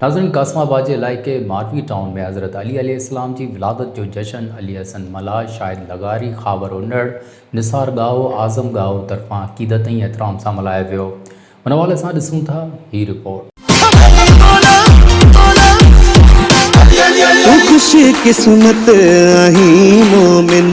ناظرين قاسم آباد جي علائقي ماروي ٽائون ۾ حضرت علي عليه السلام جي ولادت جو جشن علي حسن ملاح، شاهد لغاري، خاور انڙ، نثار ڳاهو، اعظم ڳاهو طرفان عقيدت ۽ احترام سان ملهايو ويو ان حوالي سان ڏسون ٿا هي رپورٽ. تون خوش قسمت آهين مومن.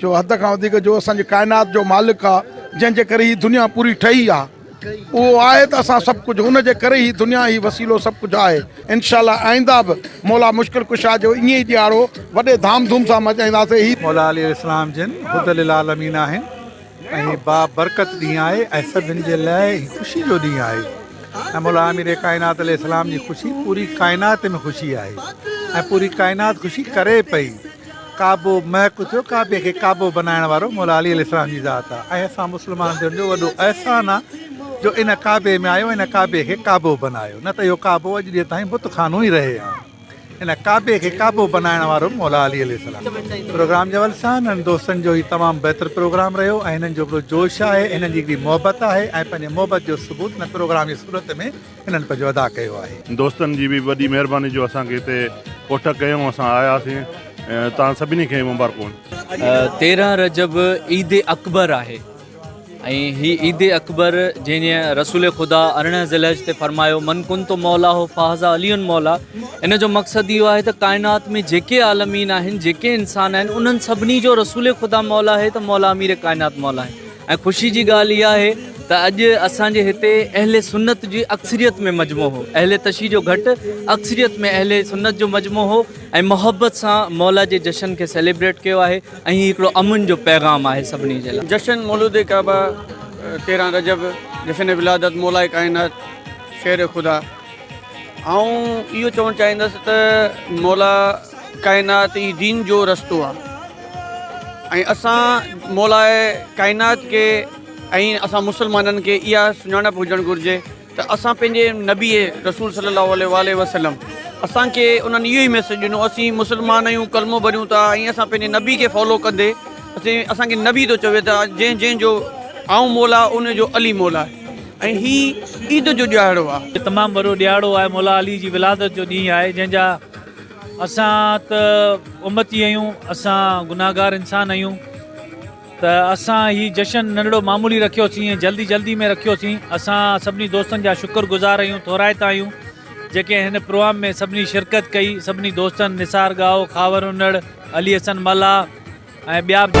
جو حد کان وڌيڪ جو اسان جي ڪائنات جو مالڪ آ جنهن جي ڪري هي دنيا پوري ٺهي آ اهو آهي ته اسان سڀ ڪجهه ان جي ڪري هي دنيا هي وسيلو سڀ ڪجهه آهي انشاء الله آئنده به مولا مشڪل ڪشا جو ائين ئي ڏيهاڙو وڏي ڌام ڌوم سان ملهائينداسين هي مولا علي السلام جن هدي للعالمين آهن ۽ هي با برڪت ڏينهن آهي ۽ سڀن جي لاء هي خوشي جو ڏينهن آهي ۽ مولا امير ڪائنات عليه السلام جي خوشي پوري ڪائنات ۾ خوشي آهي ۽ پوري ڪائنات خوشي ڪري پئي ڪعبو مهڪ اٿيو، ڪعبي کي ڪعبو بنائڻ وارو مولا علي عليه السلام جي ذات آ ۽ اسان مسلمان ٿيڻ جو وڏو احسان آ جو ان ڪعبي ۾ آيو ان ڪعبي کي ڪعبو بنايو نه ته اهو ڪعبو اڄ ڏينهن تائين بت خانو ئي رهي ها ان ڪعبي کي ڪعبو بنائڻ وارو مولا علي عليه السلام پروگرام جي حوالي سان هنن دوستن جو هي تمام بهتر پروگرام رهيو ۽ هنن جو هڪڙو جوش آهي هنن جي هڪڙي محبت آهي ۽ پنهنجي محبت جو ثبوت هن پروگرام جي صورت ۾ انهن پنهنجو ادا ڪيو آهي. دوستن جي به وڏي مهرباني جو اسان کي هتي ڪوٺ ڪيائون اسان آياسين توهان سڀني کي مبارڪون. تيرهن رجب عيد اڪبر آهي ۽ هي عيد اڪبر جنهن جي رسول خدا ارڙهن ذوالحج تي فرمايو من ڪنت مولاه فهذا علي مولا ان جو مقصد اهو آهي ته ڪائنات ۾ جيڪي عالمين آهن جيڪي انسان آهن انهن سڀني جو رسول خدا مولا آهي ته مولا امير ڪائنات مولا آهن. ۽ خوشي جي ڳالهه اها آهي ته اڄ اسان جي هتي اهل سنت جي اڪثريت ۾ مجموعو هو اهل تشيع جو گهٽ اڪثريت ۾ اهل سنت جو مجموعو هو ۽ محبت سان مولا جي جشن کي سيليبريٽ ڪيو آهي ۽ هي هڪڙو امن جو پيغام آهي سڀني جي لاء. جشن مولود ڪعبه تيرهن رجب جشن ولادت مولائي ڪائنات شير خدا. آئون اهو چوڻ چاهيندس ته مولا ڪائنات ئي دين جو رستو آهي ۽ اسان مولا ڪائنات کي ۽ اسان مسلمانن کي اها سڃاڻپ هجڻ گهرجي ته اسان پنهنجي نبي رسول صلي الله عليه وآله وسلم اسانکي انهن اهو ئي ميسج ڏنو اسين مسلمان آهيون ڪلمو ڀريون ٿا ۽ اسان پنهنجي نبي کي فالو ڪندي اسين اسانکي نبي ٿو چوي ته جنهن جنهن جو آئون مولا ان جو علي مولا ۽ هي عيد جو ڏيهاڙو آ. هي تمام وڏو ڏيهاڙو آهي مولا علي جي ولادت جو ڏينهن آهي جنهن جا اسان ته امتي اهيون اسان گناهگار انسان اهيون ته اسان هي جشن ننڍڙو معمولي رکيو سين ۽ جلدي جلدي ۾ رکيو سين اسان سڀني دوستن جا شڪر گذار اهيون ٿورائتا اهيون جيڪي هن پروام ۾ سڀني شرڪت ڪئي سڀني دوستن نثار ڳاهو خاور انڙ علي حسن ملاح ۽ ٻيا به